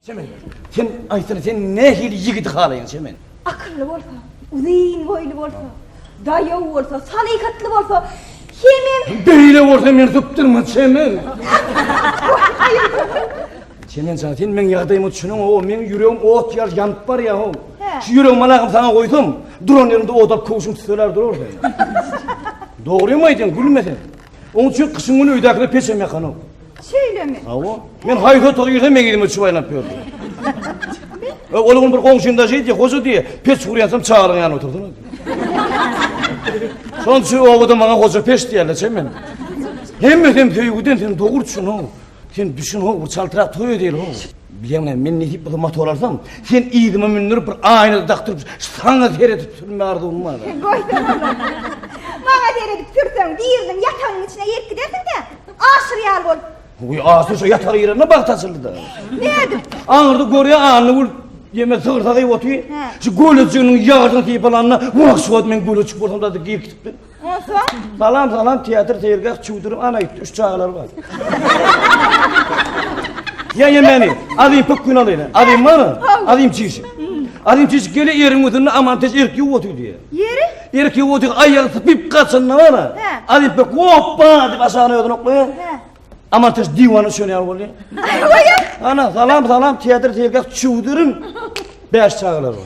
Çemen, sen aýtsana, sen nähili ýigidi halaýaň, Çemen? Akylly bolsa, uzyn boýly bolsa, daýaw bolsa, salyhatly bolsa, hemem... Beýle bolsa meni sypdyrma, Çemen! Çemen jan, sen meň ýagdaýyma düşüneň, ho, meň ýüregim ot ýaly ýanyp barýar, ho. Şu ýüregimi alaňam saňa goýsam, duran ýeriňde ot alyp köwşüň tüsseler durar sen. Dogrymy aýdýaň, gülme sen. Oň üçin gyşyň güni öýdäkilere peç hem ýakanok. Şeýlemi? Hawa. Men haýsy otaga girsem meň ýüzüme çubaýlanyp ýördi. E, ol gün bir goňşym daş diýdi, hoja diýe, peç gurýansam çagalyň ýanyna oturdyň. Şonuň üçin obada maňa hoja peç diýerler, çemen. Hemmesi hem söýgüden sen dogruçynyň. Sen düşün ho, bir çaltrak toy edeyli ho. Bileň ne, men nesip bolsa motor alsam, sen yzyma mündürip bir aýna dakdyryp, saňa seredip sürme arzuwym bar. Goýsana Maňa seredip sürseň, biriniň ýatagynyň içine girip gidersiň-de, aşyr ýaly bolup. Goý, aşyr şu ýataga girende bagt açyldy-da. Nädip? Aňyrda görýä anna gül Ýeme sygyrsa gyýyp otyr. Şu gölejiginiň ýagyny sypalanda, wah şu wagt men göleçik bolsam-da girip gitipdim. Onsoň? Salam, salam, teatr, seýilgäh, çüwdürim, ana gitdi, üç çagalar bar. Ýa-ýa meni, azim pöp gün alyna, azim bar, azim çişi. Azim çişi gele ýeriň üstünde aman teş erk ýuw otyr diýe. Ýeri? Erk ýuw otyr, aýagy sypyp gaçanda bar, azim pöp hoppa diýip aşagyna özüni oklaýa. Aman teş diwana şöne ýaly bolýa. Ana, salam, salam, teatr, seýilgäh, çüwdürim, bäş çagalar bar.